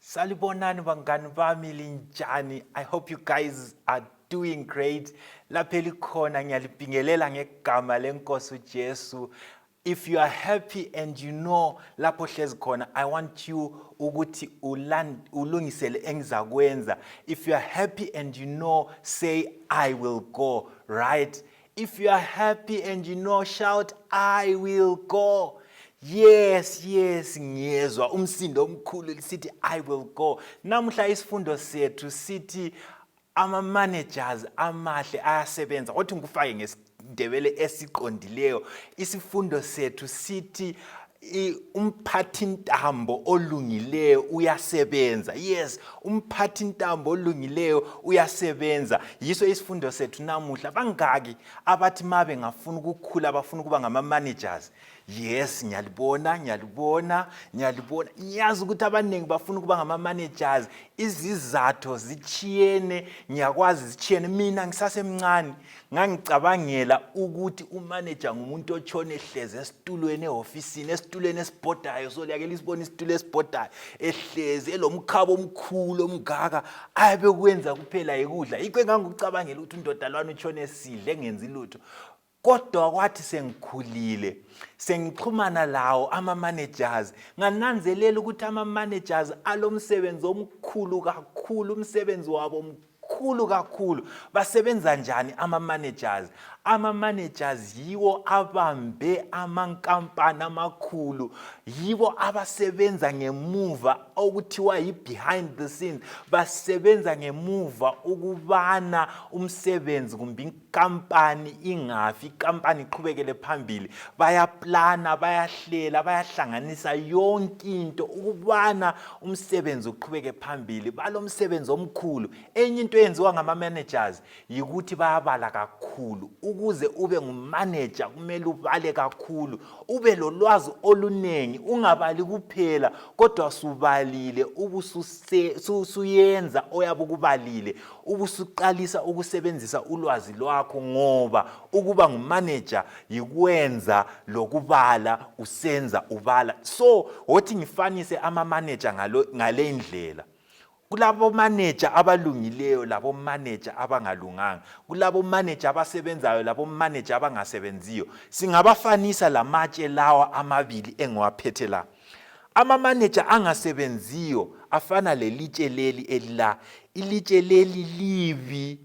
Salibonani bangani bami linjani. I hope you guys are doing great. Lapha elikhona ngiyalibingelela ngegama lenkosi uJesu. If you are happy and you know lapho hlezi khona, I want you ukuthi ulungisele engizakwenza. If you are happy and you know, say I will go, right? If you are happy and you know, shout, I will go. Yes, yes, ngiyezwa umsindo omkhulu lisithi I will go. Namuhla isifundo sethu sithi ama managers amahle ayasebenza. Kodwa ngikufake ngesidebele esiqondileyo. Isifundo sethu sithi umphathintambo olungileyo uyasebenza yes umphathintambo olungileyo uyasebenza yiso isifundo sethu namuhla bangaki abathi ma bengafuna ukukhula bafuna ukuba ngama-managers yes ngiyalibona ngiyalibona ngiyalibona ngiyazi ukuthi abaningi bafuna ukuba ngama-managers izizatho zitshiyene ngiyakwazi zitshiyene mina ngisasemncane ngangicabangela ukuthi umaneja ngumuntu otshone ehlezi esitulweni ehofisini esitulweni esibhodayo so liyake lisibona isitulo esibhodayo ehlezi elomkhaba omkhulu omngaka ayabe kwenza kuphela yikudla yikho engangikucabangela ukuthi undoda lwani utshone esidle engenzi lutho kodwa kwathi sengikhulile sengixhumana lawo ama-managers ngananzelela ukuthi ama-managers alomsebenzi omkhulu kakhulu umsebenzi wabo mkhulu Khulu kakhulu basebenza njani ama-managers ama-managers yiwo abambe amankampani amakhulu yibo abasebenza ngemuva okuthiwa yi-behind the scenes basebenza ngemuva ukubana umsebenzi kumbe kampani ingafi ikampani iqhubekele phambili bayaplana bayahlela bayahlanganisa yonke into ukubana umsebenzi uqhubeke phambili balomsebenzi omkhulu enye into eyenziwa ngama-managers yikuthi bayabala kakhulu ukuze ube ngumanager kumele ubale kakhulu ube lolwazi oluningi ungabali kuphela kodwa subalile ubusuyenza oyabe ukubalile ubusuqalisa ukusebenzisa ulwazi lwakho ngoba ukuba ngumaneja yikwenza lokubala usenza ubala so wothi ngifanise amamaneja ngale ndlela kulabomaneja abalungileyo labomaneja abangalunganga kulabomaneja abasebenzayo labomaneja abangasebenziyo singabafanisa lamatshe lawa amabili engiwaphethe la Amamaneja angasebenziyo afana lelitshe leli elila. Ilitshe leli libi,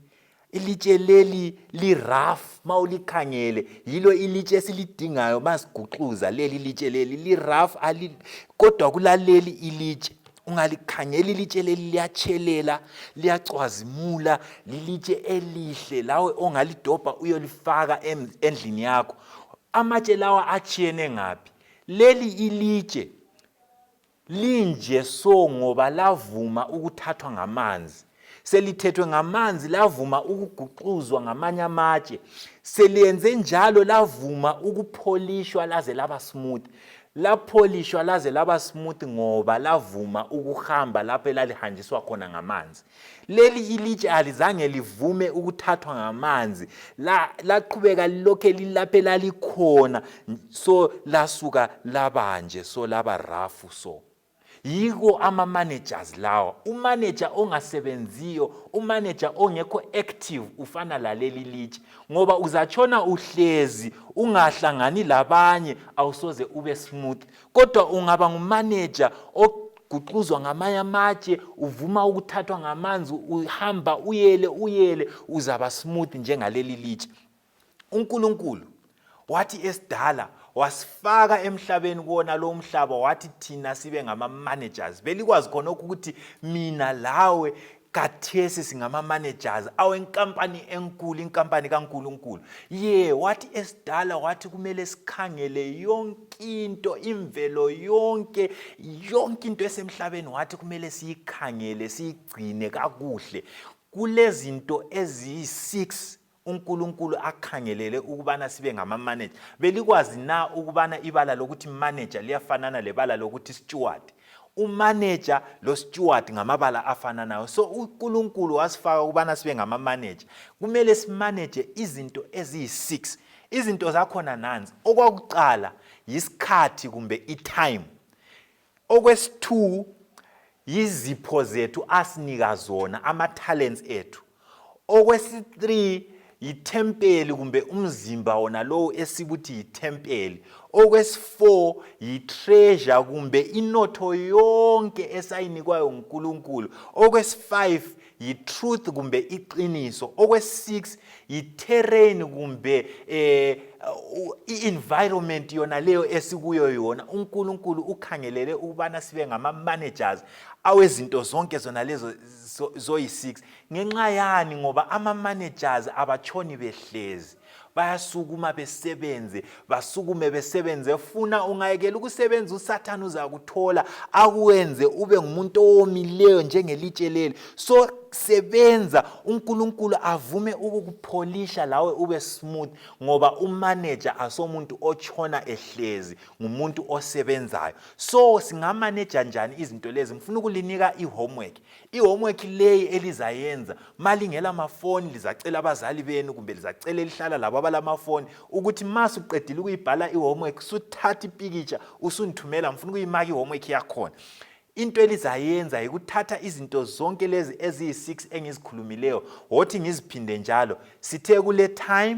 ilitshe leli liraf ma ulikhangele. Yilo ilitshe esilidingayo ma siguxuza leli ilitshe leli liraf kodwa kulaleli ilitshe ungalikhangela ilitshe leli liyatshelela liyacwazimula lilitshe elihle lawe ongalidobha uyolifaka endlini yakho amatshe lawa atshiyene ngaphi Leli ilitshe linje so ngoba lavuma ukuthathwa ngamanzi selithethwe ngamanzi lavuma ukuguxuzwa ngamanye amatshe seliyenze njalo lavuma ukupholishwa laze laba smooth lapholishwa laze laba smooth ngoba lavuma ukuhamba lapho elalihanjiswa khona ngamanzi Leli ilitshe alizange livume ukuthathwa ngamanzi, laqhubeka lokhe lilaphe lalikhona, so lasuka labanje, so laba rafu so. Yiko ama-managers lawa. Umanager ongasebenziyo, umanager ongekho active ufana laleli litshe ngoba uzatshona uhlezi ungahlangani labanye awusoze ube smooth kodwa ungaba ngumaneja guxuzwa ngamanye amatshe uvuma ukuthathwa ngamanzi uhamba uyele uyele uzaba smooth njengaleli litshe uNkulunkulu wathi esidala wasifaka emhlabeni kuwona lo mhlaba wathi thina sibe ngama-managers belikwazi khonokho ukuthi mina lawe kathesi singama-managers awenkampani enkulu inkampani kankulunkulu ye wathi esidala wathi kumele sikhangele yonke into imvelo yonke yonke into esemhlabeni wathi kumele siyikhangele siyigcine kakuhle kulezinto eziyi-six uNkulunkulu akhangelele ukubana sibe ngamamanager belikwazi na ukubana ibala lokuthi manager liyafanana lebala lokuthi steward umanager losteward ngamabala afananayo so uNkulunkulu wasifaka ukubana sibe ngamamanager kumele simanage izinto eziyi-6 izinto zakhona nanzi okwakuqala yisikhathi kumbe itime Okwesithu yizipho zethu asinika zona ama talents ethu. Okwesi-3 yithempeli kumbe umzimba wona lowo esikuthi yithempeli. Okwesi-4 yitreasure kumbe inotho yonke esayinikwayo nguNkulunkulu. Okwesi-5 yi-truth kumbe iqiniso okwe-six yi-terrain kumbe eh i-environment yona leyo esikuyo yona unkulunkulu ukhangelele ukubana sibe ngama-managers awezinto zonke zona lezo zoyi-six ngenxa yani ngoba ama-managers abatshoni behlezi bayasukuma besebenze basukume besebenze funa ungayekela ukusebenza usathane uzakuthola akwenze ube ngumuntu owomileyo njengelitshe leli so sebenza uNkulunkulu avume ukukupholisha lawe ube smooth ngoba umanager asomuntu ochona ehlezi ngumuntu osebenzayo so singamaneja njani izinto lezi ngifuna ukulinika ihomework I-homework leyi elizayenza malingela mafoni lizacela abazali benu kumbe lizacela elihlala labo abalamafoni ukuthi ma suqedile ukuyibhala i-homework suthatha ipikitsha usundithumela ngifuna ukuyimaka i-homework yakhona into elizayenza yikuthatha izinto zonke lezi eziyi-6 engizikhulumileyo wothi ngiziphinde njalo sithe kule time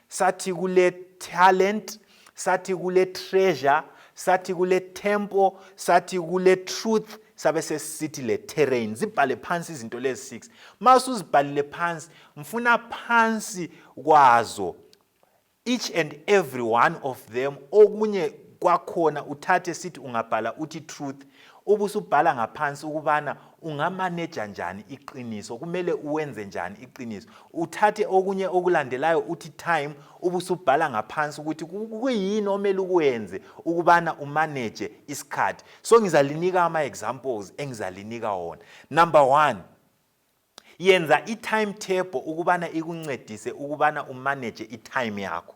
sathi kule talent sathi kule treasure sathi kule temple sathi kule truth sabe sesithi le terrain zibhale phansi izinto lezi six uma usuzibhalile phansi ngifuna phansi kwazo each and every one of them okunye kwakhona uthathe sithi ungabhala uthi truth ubusubhala ngaphansi ukubana ungamaneja njani iqiniso kumele uwenze njani iqiniso uthathe okunye okulandelayo uthi time ubusubhala ngaphansi ukuthi kuyini omele ukwenze ukubana umaneje isikhathi so ngizalinika ama-examples engizalinika wona number one yenza i-timetable ukubana ikuncedise ukubana umaneje i-time yakho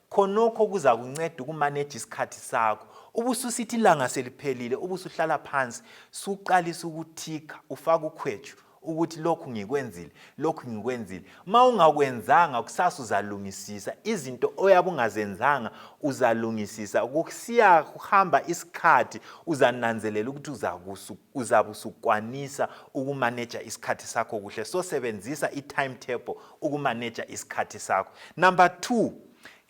Khonokho kuzakunceda ukumaneja isikhathi sakho. Ubususithi ilanga seliphelile ubusuhlala phansi suqalisa ukuthikha ufaka ukhwetshu ukuthi lokhu ngikwenzile lokhu ngikwenzile ma ungakwenzanga kusasa uzalungisisa izinto oyabe ungazenzanga uzalungisisa kusiya kuhamba isikhathi uzananzelela ukuthi uzabe usukwanisa ukumaneja isikhathi sakho kuhle so sebenzisa i-timetable ukumaneja isikhathi sakho number two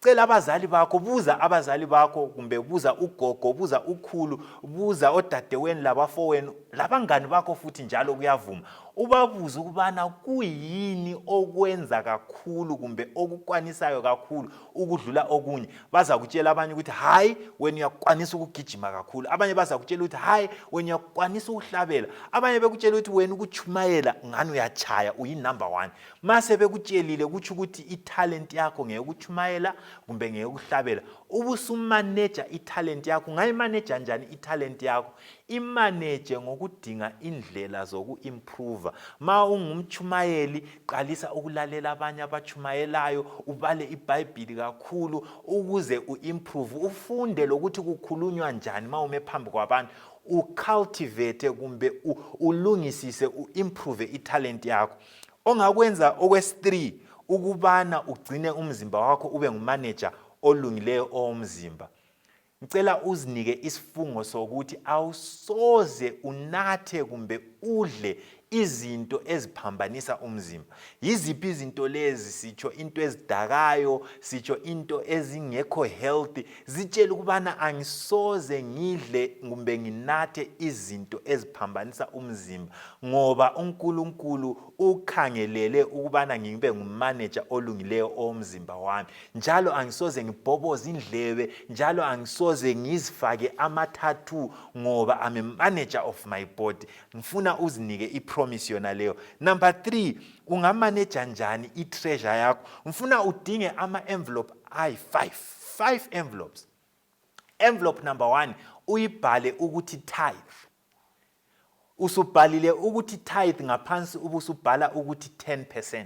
cela abazali bakho buza abazali bakho kumbe buza ugogo buza ukhulu buza odadeweni labafowenu labangani bakho futhi njalo kuyavuma ubabuze ukubana kuyini okwenza kakhulu kumbe okukwanisayo kakhulu ukudlula okunye bazakutshela abanye ukuthi hayi wena uyakwanisa ukugijima kakhulu abanye bazakutshela ukuthi hayi wena uyakwanisa ukuhlabela abanye bekutshela ukuthi wena ukutshumayela ngani uyatshaya uyinumber one ma sebekutshelile kutsho ukuthi ithalenti yakho ngeyokutshumayela kumbe ngeyokuhlabela ubusumaneja ithalenti yakho ungayimaneja njani ithalenti yakho imaneje ngokudinga indlela zoku-improva ma ungumtshumayeli Qalisa ukulalela abanye abatshumayelayo, ubale iBhayibhili kakhulu ukuze uimprove, ufunde lokuthi kukhulunywa njani ma ume phambi kwabantu, ucultivate kumbe ulungisise uimprove italent yakho. Ongakwenza okwesi-3 ukubana ugcine umzimba wakho ube ngumanager olungileyo owomzimba. Ngicela uzinike isifungo sokuthi awusoze unathe kumbe udle izinto eziphambanisa umzimba. Yiziphi izinto lezi? Sitsho into ezidakayo, sitsho into ezingekho healthy. Zitshele ukubana angisoze ngidle kumbe nginathe izinto eziphambanisa umzimba ngoba uNkulunkulu ukhangelele ukubana ngibe ngumanager olungileyo owomzimba wami. njalo angisoze ngibhoboze indlebe njalo angisoze ngizifake amathathu ngoba I'm a manager of my body ngifuna uzinike ipromise yona leyo number 3 ungamaneja njani itreasure yakho ngifuna udinge ama envelope ayi5 5 envelopes envelope number 1 uyibhale ukuthi tithe usubhalile ukuthi tithe ngaphansi ubusubhala ukuthi 10%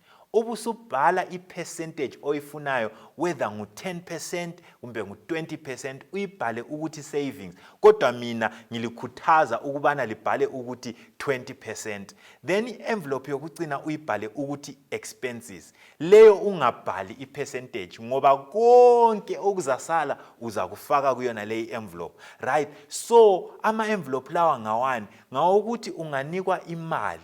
ubusubhala ipercentage oyifunayo whether ngu 10% kumbe ngu 20% uyibhale ukuthi savings kodwa mina ngilikhuthaza ukubana libhale ukuthi 20% then i-envelope yokucina uyibhale ukuthi expenses leyo ungabhali ipercentage ngoba konke okuzasala uzakufaka kuyona leyi envelope right so ama-envelope lawa ngawani ngawokuthi unganikwa imali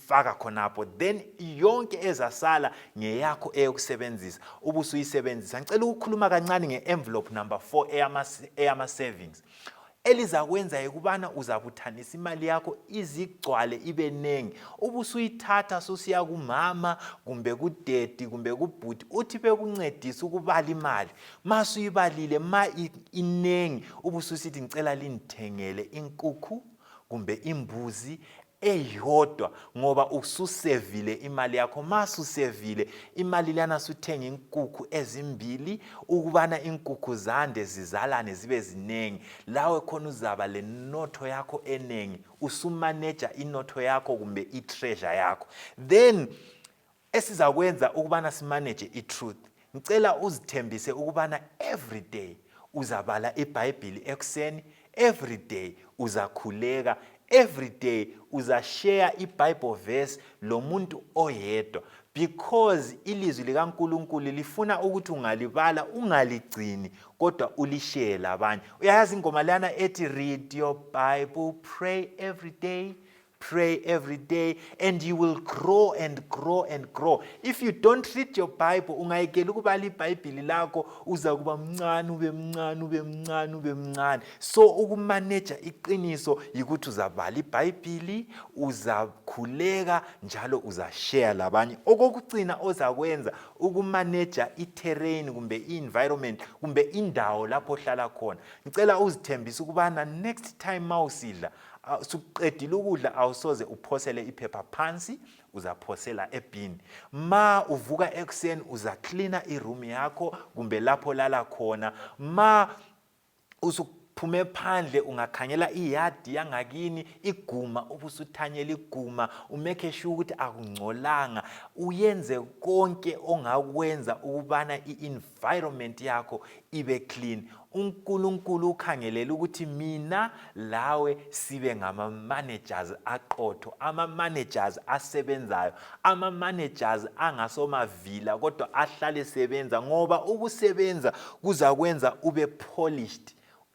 faka khonapho then yonke ezasala ngeyakho eyokusebenzisa ubusuyisebenzisa ngicela ukukhuluma kancane nge-envelope number 4 eyama-savings elizakwenza yikubana uzabuthanisa imali yakho izigcwale ibe ningi ubusuyithatha susiya kumama kumbe kudedi kumbe kubhuti uthi bekuncedisa ukubala imali ma suyibalile ma inengi ubususithi ngicela lindithengele inkukhu kumbe imbuzi eyodwa ngoba ususevile imali yakho ma susevile imali lana suthenga inkukhu ezimbili ukubana inkukhu zande zizalane zibe ziningi lawe khona uzaba lenotho yakho eningi usumaneja inotho yakho kumbe itreasure yakho then esizakwenza ukubana simanage itruth ngicela uzithembise ukubana everyday uzabala ibhayibhili ekuseni everyday uzakhuleka everyday uzashare ibible verse lomuntu oyedwa because ilizwi likaNkuluNkulu lifuna ukuthi ungalibala ungaligcini kodwa ulishare labanye uyayazi ingoma lana ethi read your bible pray every day Pray every day and you will grow and grow and grow. If you don't read your Bible, ungayekela ukubala iBhayibhili lakho uza kuba mncane ube mncane ube mncane ube mncane. So ukumaneja iqiniso yikuthi uzabala iBhayibhili, uzakhuleka njalo uzashare labanye. Okokugcina ozakwenza ukumaneja i-terrain kumbe i-environment kumbe indawo lapho ohlala khona. Ngicela uzithembise ukubana next time mawusidla suqedile ukudla awusoze uphosele iphepha phansi uzaphosela ebhini ma uvuka ekuseni uzaklina iroom yakho kumbe lapho lala khona ma usuphume phandle ungakhangela iyadi yangakini iguma ubusuthanyela iguma umekhe shu ukuthi akungcolanga uyenze konke ongakwenza ukubana i-inv environment yakho ibe clean uNkulunkulu ukhangelele ukuthi mina lawe sibe ngama managers aqotho ama managers asebenzayo ama managers angasomavila kodwa ahlale sebenza ngoba ukusebenza kuzakwenza ube polished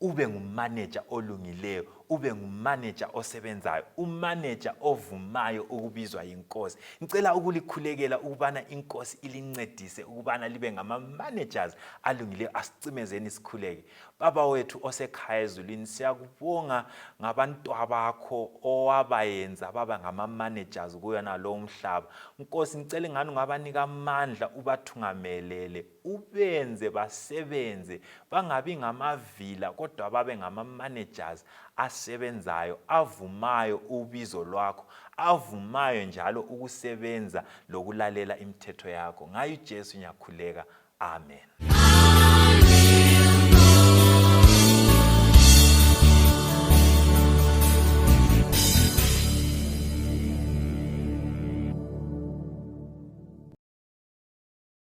ube ngumaneja olungileyo ube ngumaneja osebenzayo umaneja ovumayo ukubizwa yinkosi ngicela ukulikhulekela ukubana inkosi ilincedise ukubana libe ngama-managers alungileyo asicimezeni sikhuleke baba wethu osekhaya ezulwini siyakubonga ngabantwa bakho owabayenza baba ngama-managers kuyona lowo mhlaba nkosi ngicela ingani ungabanika amandla ubathungamelele ubenze basebenze bangabi ngamavila kodwa babe ngama-managers asebenzayo avumayo ubizo lwakho avumayo njalo ukusebenza lokulalela imithetho yakho ngayo ujesu ngiyakhuleka amen